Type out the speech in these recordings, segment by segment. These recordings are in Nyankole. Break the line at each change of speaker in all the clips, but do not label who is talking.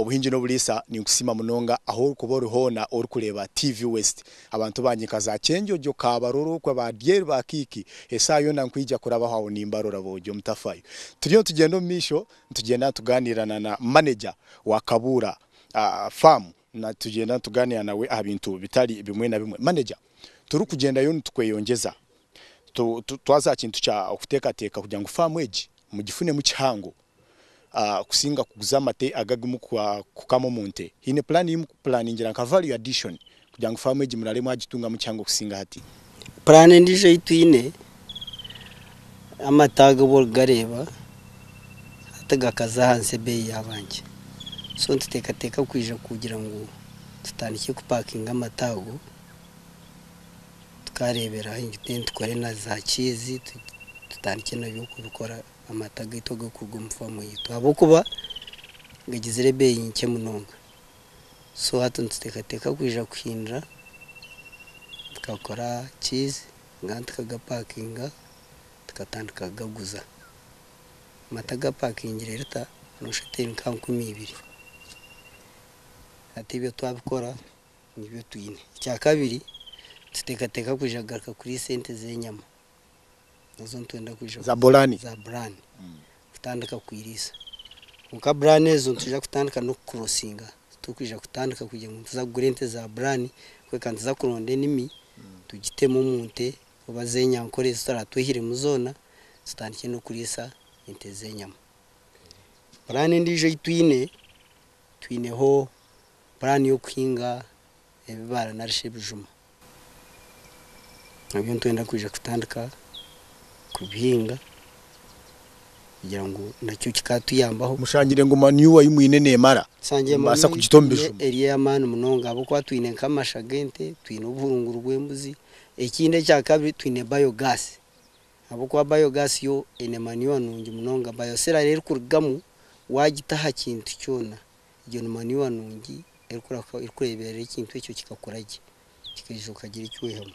Obuhingi n'oburiisa ninkusiima munonga ahu orikuba ori hoona orikureeba TV West. Abantu bangye nka za Kyenjojo, Kaabarorokwa, ba Dyer, ba Kiiki, eshaaha yoona nkwija kurabaho aho nimbarora boogye omutafayo. Turiyo nitugyenda omu maisho nitugyenda nitugaaniira na na maneja wa Kabuura faamu nitugyenda nitugaaniira nawe aha bintu bitari bimwe na bimwe. Maneja, turikugyendayo nitukweyongyeza twaza aha kintu kya okuteekateeka kugira ngu faamu egi mugifunemu kihango. kusinga kuguza amate aga agarimu kukama omu nte. Haine puraani ei mukupuraaningira nka value addition kugira ngu faamu egi muraare mwagitungamu kihango kusinga hati. Puraani endiijo
ei twine, amate aga obu orikugareeba hati gakaza ahansi ebeeyi yaaba nkye. So nituteekateeka kwija kugira ngu tutandikye kupaakinga amate ago, tukaareebera ahu enju teni, tukore na zaakiizi, tutandikye nabyo kubikora. amata gaitu agakuruga omu faamu yaitu ahabw'okuba gagizire ebeeyi nkye munonga. So hati nituteekateeka kwija kuhindura tukakora cheese nari tukagapakinga tukatandika kugaguza. Amata gapakingire lita noshusha oti eri nka nkumi ibiri. Hati ebyo twabikora nibyo twine. Ekyakabiri, nituteekateeka kwija kugaruka kuriisa ente z'enyama. ezo nitwenda kwija kuza Zaburani. zaburani kutandika kukwiriisa kwonka burani ezo nitwija kutandika n'okukurosinga titurikwija kutandika kugira ngu nituza kugura ente zaburani kureka nituza kuronda enimi tugitemu omu nte oba z'enyankore ezi turaba twehiremu zoona tutandikye n'okuriisa ente z'enyama. Burani endiijo ei twine, twineho burani y'okuhinga ebibaara narishi ebijuma nabyo nitwenda kwija kutandika kubihinga kugira ngu nakyo kikatuyambaho. Mushangire ngu manure
ei mwine nemara nimubaasa kugita
omu bijuma? Manure yaitu eri ey'amaani munonga ahabw'okuba twine nk'amasha g'ente, twine obuhurunguru bw'embuzi. Ekindi ekya kabiri twine biogas ahabw'okuba biogas yo eine manure nungi munonga. Bioseller reero erikurugamu waagita aha kintu kyona Egyo ni manuwa nungi erikureeberera ekintu ekyo kikakura gye, kikaija okagira eki oyihamu.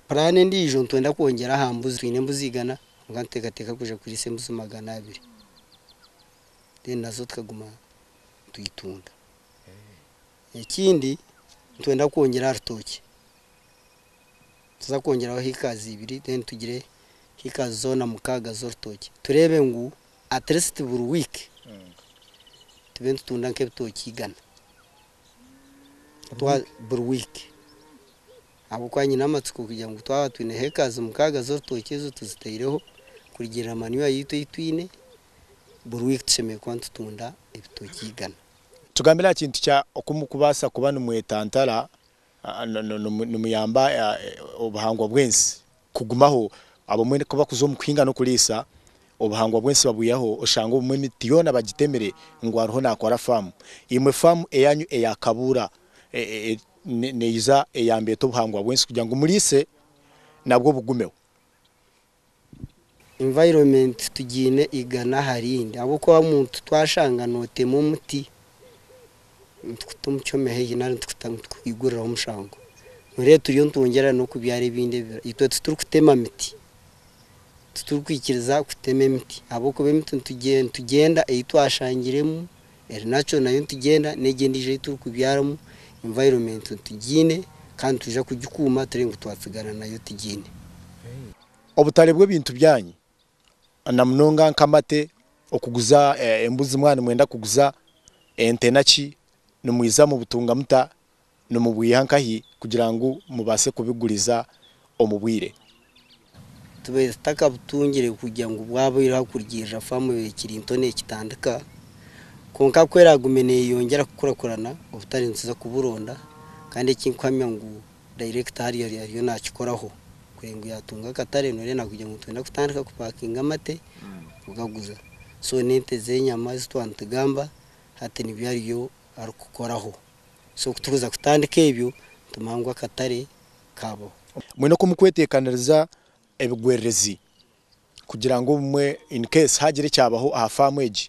Puraani endiijo nitwenda kwongyera aha mbuzi. Twine embuzi igana kwonka nituteekateeka kwija kuriisa embuzi magana abiri. Then nazo tukaguma nitwitunda. Ekindi nitwenda kwongyera aha rutookye, nituza kwongyeraho hiikazi ibiri then tugire hiikazi zoona mukaaga z'orutookye tureebe ngu. At least buri week tube nitutunda nk'ebitokye igana buri week ahabw'okuba nyine amatsiko kugira ngu twaba twine hectares mukaaga z'orutookye ezo tuzitaireho kurugirira manure yaitu ei twine buri week tushemereire kuba nitutunda ebitokye igana. Tugambire aha kintu
kya oku mukubaasa kuba nimwetantara nimuyamba obuhangwa bw'ensi Kugumaho, Abamwe ku bakuza omu kuhinga n'okuriisa, obuhangwa bw'ensi babwihaho oshange obumwe emiti yoona bagitemire ngu ariho naakora faamu. Imwe faamu eyaanyu eya Kabuura neija eyambe eta obuhangwa bw'ensi kugira ngu muriise nabwo bugumeho?
Environment tugiine igana aha rindi ahabw'okuba muntu twashanga nootema omuti Nitukuta omukyome haihi nari nitukuta ngu tukukwiguriraho omushango. Noreeba turiyo nitwongyera n'okubyara ebindi ebibira. Itwe titurikutema miti. Titurikwikiriza kutema emiti ahabw'okuba emiti nitugyenda ei twashangiremu eri natural nayo nitugyenda, n'egi endiijo ei turikubyaramu environment nitugiine kandi nitwija kugikuuma turi ngu twatsigara nayo tugiine.
Obutare bw'ebintu byanyu namunonga nkamate okuguza embuzi mwaba nimwenda kuguza ente naki nimwiza mubutunga muta nimubwiha nkahi kugira ngu mubase kubiguriza omubwire.
Tubaire tutakabutungire kugira ngu bwaba oyiha kurugiirira faamu ebaire ekiri nto nekitandika kwonka ku eragume neyeyongyera kukurakurana obutari nituza kuburonda kandi ekinkuhamya ngu Director ari ari ariyo nakikoraho kuri ngu yatunga akatare norenda kugira ngu nitwenda kutandika ku packinga amate kugaguza so nente zenyama ezi twa nitugamba hati nibyo ariyo ari kukoraho so kuturuza kutandika ebyo nitumanya ngu akatare kabaho. Mwena oku
mukwetekaniriza ebigwererezi kugira ngu obumwe in case hagira ekyabaho aha faamu egi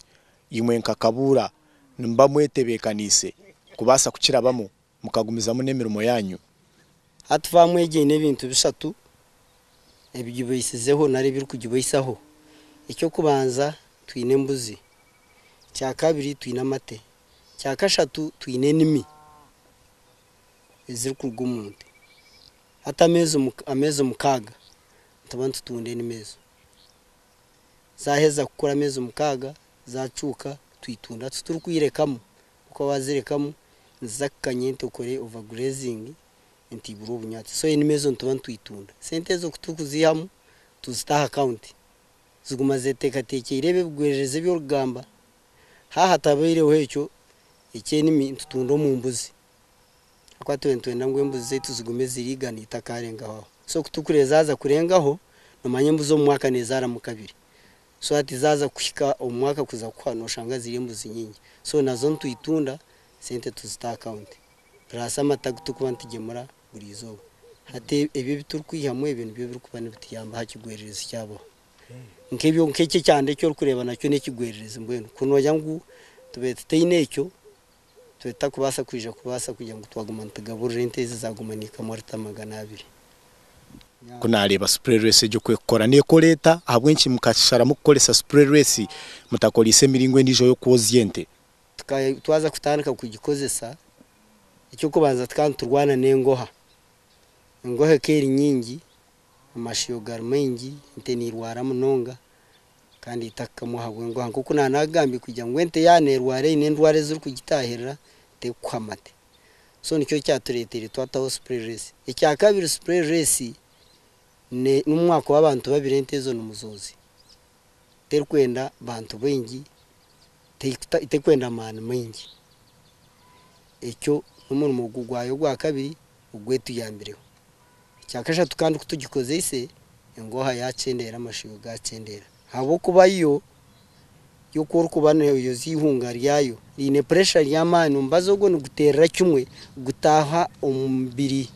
imwe nka Kabuura nimuba mwetebekaniise kubasa kukirabamu mukagumizamu n'emirimo yaanyu. Hati faamu
egi eine ebintu bishatu ebigibaisizeho nari ebirikugibaisaho. Eky'okubanza twine embuzi. Ekya kabiri twine amate. Ekya kashatu twine enimi ezirikuruga omu nte. Hati ameezi ameezi mukaaga nituba nitutunda enimi ezo. Zaaheza kukura ameezi mukaaga, zaacuuka, twitunda. Titurikwiirekamu. kwonka wazirekamu niziza kukanya entokore, over grazing, entiibura obunyatsi so enimi ezo nituba nitwitunda. Sente ezo kuturikuziihamu tuzita aha account ziguma zeteekateekyeire ebyo ebigwererezi ebi orikugamba. Haaba hatabaireho ekyo ekyenimi nitutunda omu mbuzi ahabw'okuba tube nitwenda ngu embuzi zaitu zigume ziri igana eitakaarengaho aho. So kuturikureezaaza kurengaho, noomanya embuzi omu mwaka neezaaramu kabiri. so hati zaza kuhika omu mwaka kuza kuhwa noshanga ziri embuzi nyingi so nazo nitwitunda sente tuzita aha account plus amata aguturikuba nitugemura buri izooba hati ebi ebiturikwihamu ebyo nibyo ebirikuba nibituyamba aha kigwererezi kyabaho nkebyo nkekyo ekyanda eki orikureeba nakyo nekigwererezi mbwenu kunogira ngu tube tutaine ekyo Tutakubaasa kwija kubaasa kugira ngu twaguma nitugaburira ente ezi zaaguma niikaamwa lita magana abiri. Ku naareeba
supureerwesi egyo ku erikukora, neekora eta? Ahabw'enki mukasharamu kukoresa supureerwesi mutakoreise emiringo endiijo y'okwozya ente? Tukaba twaza
kutandika kugikozesa, eky'okubanza tukaba niturwana n'engoha. Engoha ekaba eri nyingi, amashiyo gari maingi, ente neirwara munonga. Kandi eitaka kamwe ahabw'enguha, nk'oku naanagambire kugira ngu ente yaaba neerwara eine endwara ezirikugitaahirira terikuha amate. So nikyo kyatureeteire twataho spray race. Ekya kabiri spray race ne n'obu mwakuba abantu babiri ente ezo ni muzoozi. Terikwenda bantu baingi, terikuta terikwenda maani maingi. Ekyo n'omurimo gwayo ogwa kabiri ogwetuyambireho. Ekya kashatu kandi ku tugikozeise, engooha yaakyendeera, amashoyo gaakyendeera. Ahabw'okuba yo, yo ku orikuba nooyoza eihunga ryayo riine puresha ry'amaani, omubazi ogwo niguteerera kimwe gutaaha omu mubiri,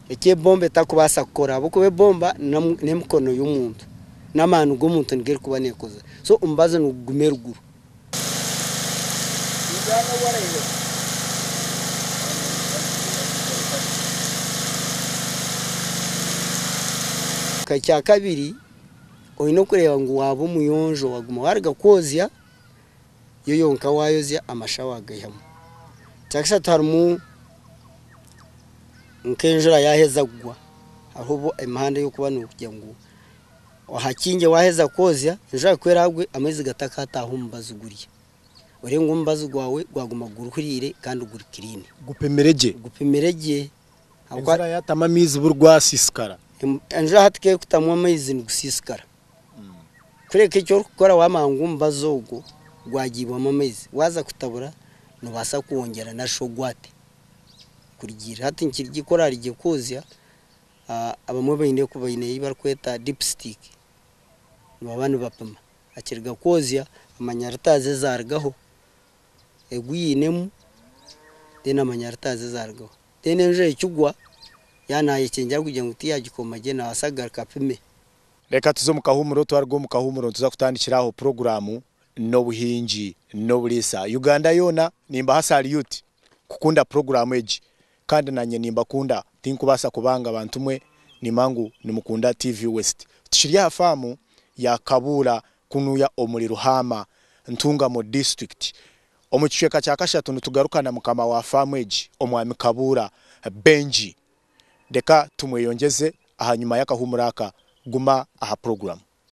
eki ebomba etarikubaasa kukora ahabw'okuba ebomba n'emikono y'omuntu, n'amaani g'omuntu nigo erikuba neekoza. So omubazi niguguma eruguru. Ekya kabiri oyine kureeba ngu waaba omuyonjo waguma waruga kwozya yo yonka wayozya amasha wagaihamu. Ekya kashatu harimu nk'enjura yaheza kugwa hariho obu emihanda ey'okuba nogira ngu. Ohakingye waaheza kwozya, enju yaawe ku eraagwe amaizi gatakaataaha omubazi gurya, oreebe ngu omubazi gwawe gwaguma guruhuriire kandi guri kiriini. Gupimire gye. Gupimire gye. Enju
eraabe yaatamu amaizi buri gwasiisikara. Enju eraabe
tikeekutamu amaizi nigusiisikara. Kureka eki orikukora waamanya ngu omubazi ogwo gwagiibwamu amaizi, waaza kutabura noobaasa kwongyera nari shi ogwate kurugiirira hati. Nikiri gye ku oraari gye kwozya. Abamwe baine ku baine ei barikweta dipstick nibaba nibapima akiriga kwozya amanya lita ze zaarugaho, egu yainemu then amanya lita ze zaarugaho. Then enjura ekigwa yaaba naayekyengyera kugira ngu tiyaagikoma gye naabaasa kugaruka apime. Reka tuze
omu kahuumuro, twaruga omu kahuumuro nituza kutandikira aho puroguraamu n'obuhingi n'oburiisa. Uganda yoona nimbaha salyuti kukunda puroguraamu egi. Kandi nanye nimbakunda tinkubaasa kubanga bantu mwe nimba ngu nimukunda TV west tukiri aha faamu ya kabuura kunuya omuri ruhaama ntungamo district omu kicweeka kya kashatu nitugaruka na mukama wa faamu egi omwami kabuura benji reka tumweyongyeze ahanyima y'akahuumuro aka guma aha program.